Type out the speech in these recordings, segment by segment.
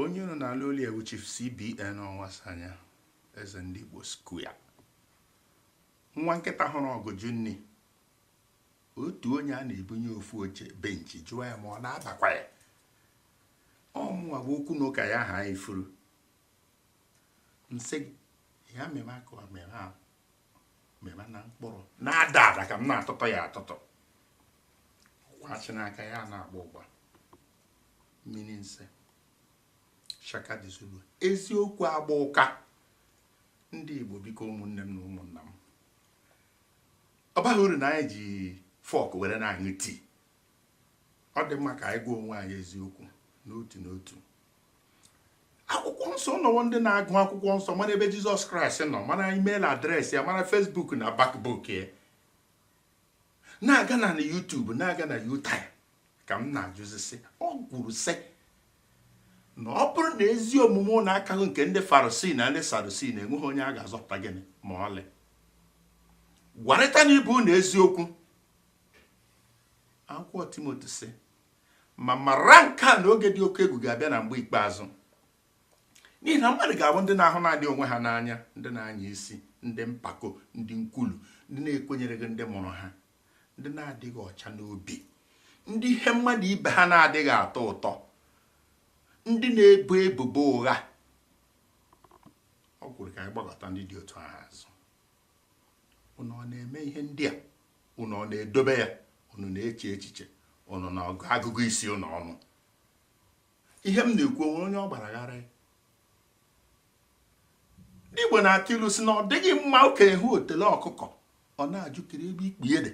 onye unu na-anụ olu ya wụ chief cbn ọnwụasọanya eze ndị igbo square nwa nkịta hụrụ ọgụ jụ nni otu onye a na-ebunye ofu oche benchi jụọ ya ma ọ na-abakwa ya ọmụwa bụ okwu na ụka ya ha ifuru nsị ya meme aka ọmịra meba na mkpụrụ na-ada ada ka m na-atụtụ ya atụtụ kwachị n'aka ya na-agba ụgba mmiri nse shaka the zulu eziokwu agba ụka ndị Igbo biko ụmụnne m na ụmụnna m ọ baghị uru na anyị ji fọk were na-aṅụ tii ọ dị mma ka anyị gwa onwe anyị eziokwu n'otu n'otu akwụkwọ nsọ nọwo ndị na-agụ akwụkwọ nsọ mara ebe jizọs kraịst nọ mara email address ya mara facebook na backbook ya na-aga na youtube na-aga na youtyre ka m na-ajụzi sị o kwuru sị na ọ bụrụ na ezi omume unu akaghị nke ndị farisii na ndị sadusi na enweghị onye a ga-azọpụta gịnị ma ọlị gwarịtanụ ibe unu eziokwu akwụkwọ timoti sị Ma mara nke a na oge dị oke egwu ga-abịa na mgbe ikpeazụ. N'ihi na mmadụ ga-abụ ndị na-ahụ naanị onwe ha n'anya, ndị na-anya isi, ndị mpako, ndị nkwulu, ndị na-ekwenyereghị ndị mụrụ ha, ndị na-adịghị ọcha n'obi, ndị ihe mmadụ ibe ha na-adịghị atọ ụtọ, ndị na-ebo ebubo ụgha. O kwuru ka anyị gbakụta ndị dị otu ahụ azụ. unu ọ na-eme ihe ndị a unu ọ na-edobe ya unu na-eche echiche unu na agụgụ isi unu ọnụ ihe m na-ekwu o nwere onye ọ gbara ghara ndị Igbo na-atụ ilu sị na ọ dịghị mma okenye hụ otele ọkụkọ ọ na-ajụ kedụ ebe ikpu ya dị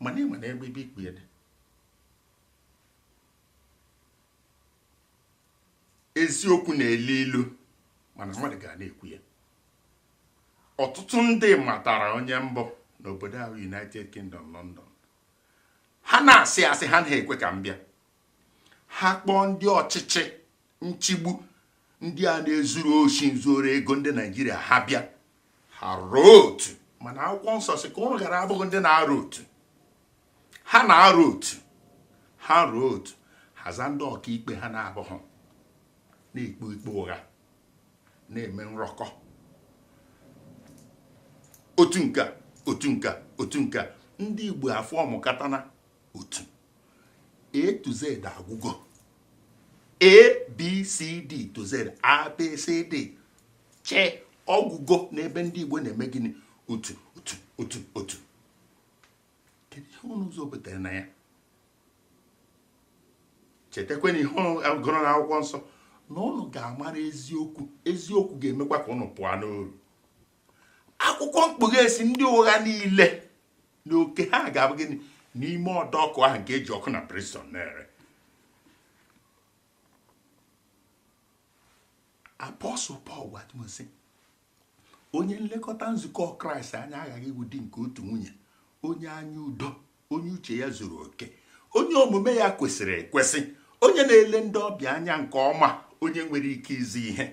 mana ị ma na ebe ikpu ya dị eziokwu na-elu ilu mana mmadụ ga na-ekwu ya ọtụtụ ndị matara onye m bụ n'obodo ahụ United Kingdom London ha na-asị asị ha anaghị ekwe ka m bịa ha kpọọ ndị ọchịchị nchigbu ndị a na-ezuru oshi nzuru ego ndị Naijiria ha bịa ha rọọ otu mana akwụkwọ nsọ sị ka ụnụ ghara abụghị ndị na-arọ otu ha na-arụ otu ha rụọ otu ha za ndị ọkaikpe ha na-abụghị na-ekpe ikpe ụgha na-eme nrọkọ otu nke otu nke otu nke ndị Igbo aformukatana otu A to Z agwụgo A B C D to Z A B C D che ọ gwụgo n'ebe ndị Igbo na-eme gịnị otu otu otu otu kedu ihe unu zọpụtara na ya chetakwa na ihe unu gụrụ n'akwụkwọ nsọ na unu ga-amara eziokwu eziokwu ga-emekwa ka unu pụọ n'oru akwụkwọ mkpughe sị ndị ụgha niile na oke ha ga-abụ gịnị n'ime ọdọ ọkụ ahụ nke e ji ọkụ na brimstone na-ere apọstụl pọl gwara timoti onye nlekọta nzukọ kraịst anya aghaghị ịwụ di nke otu nwunye onye anya udo onye uche ya zuru oke onye omume ya kwesịrị ekwesị onye na-ele ndị ọbịa anya nke ọma onye nwere ike izi ihe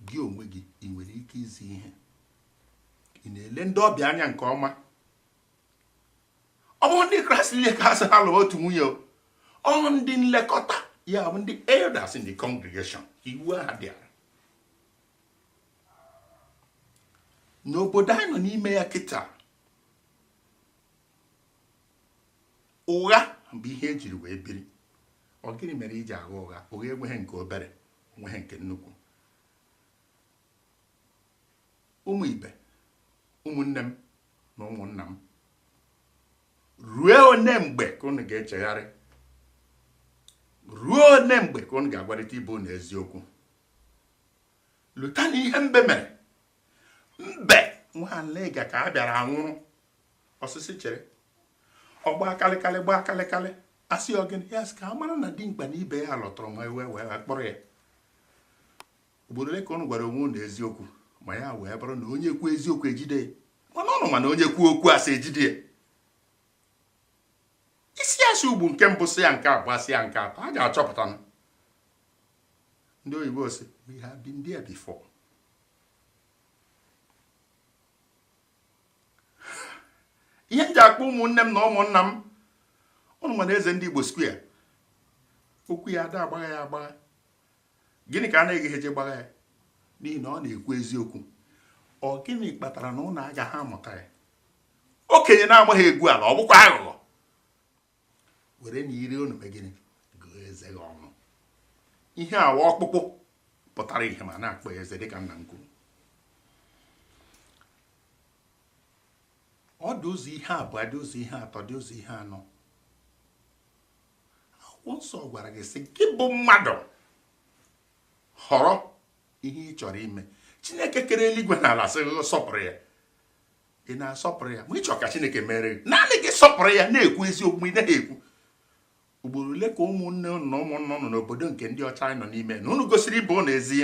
gị onwe gị ị nwere ike izi ihe ị na-ele ndị ọbịa anya nke ọma ọ bụrọ ndị kraịst niile ka a sị ha lụọ otu nwunye ọ ndị nlekọta ya bụ ndị elders in the congregation iwu ahụ dị n'obodo anyị nọ n'ime ya kịta ụgha bụ ihe e jiri wee biri ọ gịnị mere i ji agha ụgha ụgha enweghị nke obere o nweghị nke nnukwu ụmụ ibe ụmụnne m na ụmụnna m ruo one mgbe ka unu ga-echegharị ruo one mgbe ka unu ga-agwarịta ibe unu eziokwu lotanụ ihe mbe mere mbe nwa aniga ka a bịara anwụrụ ọ sị sị chere ọ gbaa kalịkalị gbaa kalịkalị a sị ọ gịnị ya sị ka a mara na dimkpa na ibe ya lụtụrụ ma e wee kpụrụ ya ugboro ole ka ụnụ gwara onwe ụnụ eziokwu ma ya wee bụrụ na onye kwuo eziokwu ejide ya mana ụnụ ma na onye kwuo okwu asị ejide ya ị sị asị ugbo nke mbụ sị ya nke abụọ sị ya nke atọ a ga-achọpụta ndị oyibo sị we have been there before ihe m ji akpọ ụmụnne m na ụmụnna m ụnụ ma na eze ndị igbo square okwu ya a da agbagha ya agbagha gịnị ka anaghị eji gbagha ya n'ihi na ọ na-ekwu eziokwu ọ gịnị kpatara na ụnụ agaghị amụta ya okenye na-amaghị egwu ala ọ bụkwa aghụghọ werenụ ire unu mee gịnị gụọ eze gị ọnụ ihe awa ọkpụkpụ pụtara ihe ma na-akpọ ya eze dịka nna m kwuru ọ dị ụzọ ihe abụọ dị ụzọ ihe atọ dị ụzọ ihe anọ akwụkwọ nsọ gwara gị sị gị bụ mmadụ họrọ ihe ị chọrọ ime chineke kere eluigwe na ala sị sọpụrụ ya ị na-asọpụrụ ya ma ị chọọ ka chineke mere gị naanị gị sọpụrụ ya na-ekwu eziokwu ị naghị ekwu ugboro ole ka ụmụnne ụnụ na ụmụnna ụnụ n'obodo nke ndị ọcha a nọ n'ime na ụnụ gosiri ịbụ ụnụ ezi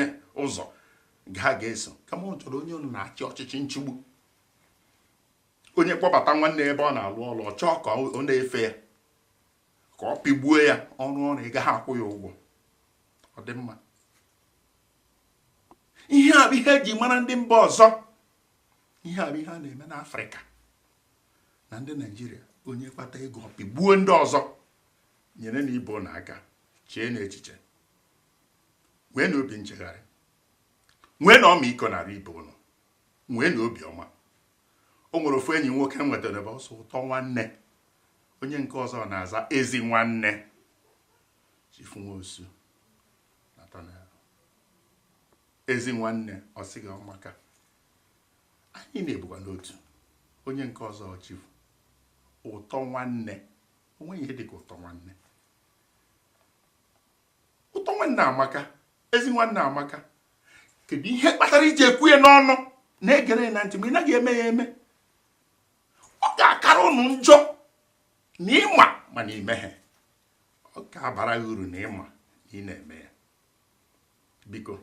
ụzọ ha ga-eso kama ụnụ chọrọ onye ụnụ na-achị ọchịchị nchigbu onye kpọbata nwanne ebe ọ na-alụ ọrụ ọ chọọ ka ọ na-efe ya ka ọ pịgbuo ya ọ rụọ ọrụ ị gaghị akwụ ya ụgwọ ọ dị mma ihe a bụ ihe eji mara ndị mba ọzọ ihe a bụ ihe a na-eme n'afrịka na ndị naijiria onye kpata ego ọ pịgbuo ndị ọzọ nyerenụ ibe ụnụ aka cheenụ echiche nweenụ obi nchegharị nweenụ ọmịiko n'arụ ibe ụnụ nweenụ obi ọma o nwere ofu enyi nwoke m nwetara ebe ọ sị ụtọ nwanne onye nke ọzọ na-aza ezi nwanne chifu nwosu Ezi nwanne, ọ sị gị ọ maka. Anyị na ya bụkwanụ otu. Onye nke ọzọ ọ chifu. Ụtọ nwanne. O nweghị ihe dịka ụtọ nwanne. Ụtọ nwanne amaka. Ezi nwanne amaka. Kedu ihe kpatara i ji ekwu ya n'ọnụ na-egere ya na ntị ma ị naghị eme ya eme? Ọ ga-akara ụnụ njọ na ị ma mana i meghị. Ọ ga-abara gị uru na ị ma na ị na-eme ya. biko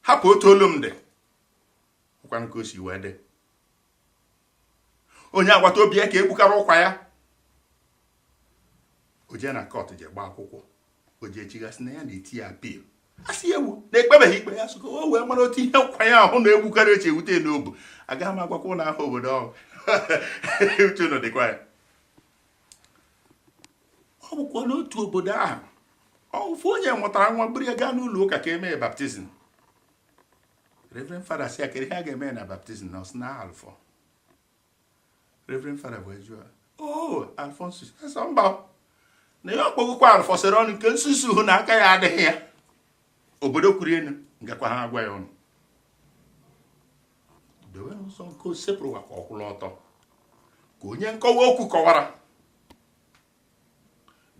hapụ otu olu m dị ọkwanụ ka o si wee dị onye agbata obi ya ka egbukara ụkwa ya o jee na kọt je gbaa akwụkwọ o jee chigasị na ya na-eti ya apil a sị ya ewo na ekpebeghị ikpe a sị ka o wee mara otu ihe ụkwa ya ahụ egbukara si ewute n'obu agaghị m agwakwa ụnụ aha obodo ọ bụ uche ụnụ dịkwa ya ọ bụkwa n'otu obodo ahụ ofu onye mụtara nwa buru ya gaa n'ụlọ ụka ka emee baptizim reverend fada sị ya kedu ihe a ga-eme na baptizim ọ sị na alfọ reverend fada bụ eju o oh, alfonsus ọ sị mba na ya akpọgokwa alfọ sịrị ụnụ nke nsusu ahụ na aka ya adịghị ya obodo kwuru enu m gakwaghị agwa ụnụ dowenụ ụzọ nke osebụrụwa ka ọ kwụrụ ọtọ ka onye nkọwa okwu kọwara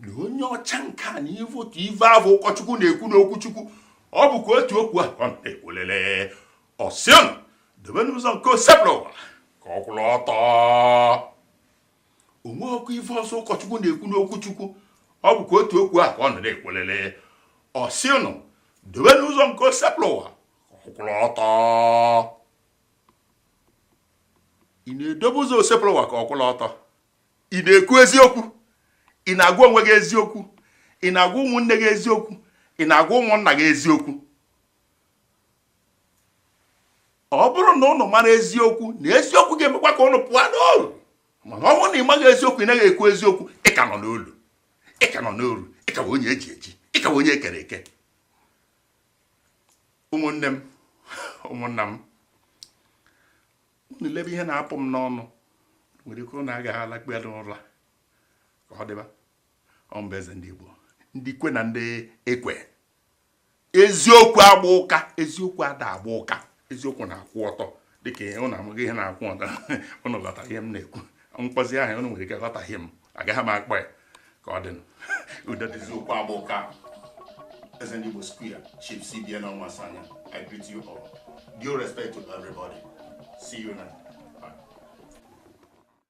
na onye ọcha nke a na ị vụ otu ive avụ ụkọchukwu na-ekwu n'okwu chukwu ọ bụkwa otu okwu a ọ na-ekwulele ọ sị ụnụ dobenụ ụzọ nke osebụrụwa ka ọ kwụrụ ọtọ o nwerọkwa ive ọzọ ụkọchukwu na-ekwu n'okwu chukwu ọ bụkwa otu okwu a ka ọ nọ na-ekwulele ọ sị ụnụ dobenụ ụzọ nke osebụrụwa ka ọ kwụrụ ọtọ ị na-edobe ụzọ osebụrụwa ka ọ kwụrụ ọtọ ị na-ekwu eziokwu ị na-agwa onwe gị eziokwu ị na-agwa ụmụnne gị eziokwu ị na-agwa ụmụnna gị eziokwu ọ bụrụ na ụnụ mara eziokwu na eziokwu ga-emekwa ka ụnụ pụọ n'oru mana ọ bụrụ na ị maghị eziokwu ị naghị ekwu eziokwu ị ka nọ n'olu ị ka nọ n'oru ị ka bụ onye eji eji ị ka bụ onye ekere eke ụmụnne m ụmụnna m unu lebe ihe na-apụ m n'ọnụ nwere ike ụnụ agaghị alakpu ya n'ụra ka ọ dịba ọ bụ eze ndị Igbo ndị kwe na ndị ekwe eziokwu agba ụka eziokwu ada agba ụka eziokwu na-akwụ ọtọ dịka ụnụ amaghị ihe na-akwụ ọtọ ụnụ ghọtara ihe m na-ekwu m kpọzie aha ụnụ nwere ike ghọtahie m agaghị m akpọ ya ka ọ dịnụ udo dị eziokwu agba ụka eze ndị Igbo square chief cbn ọnwụasoanya i greet you all due respect to everybody see you now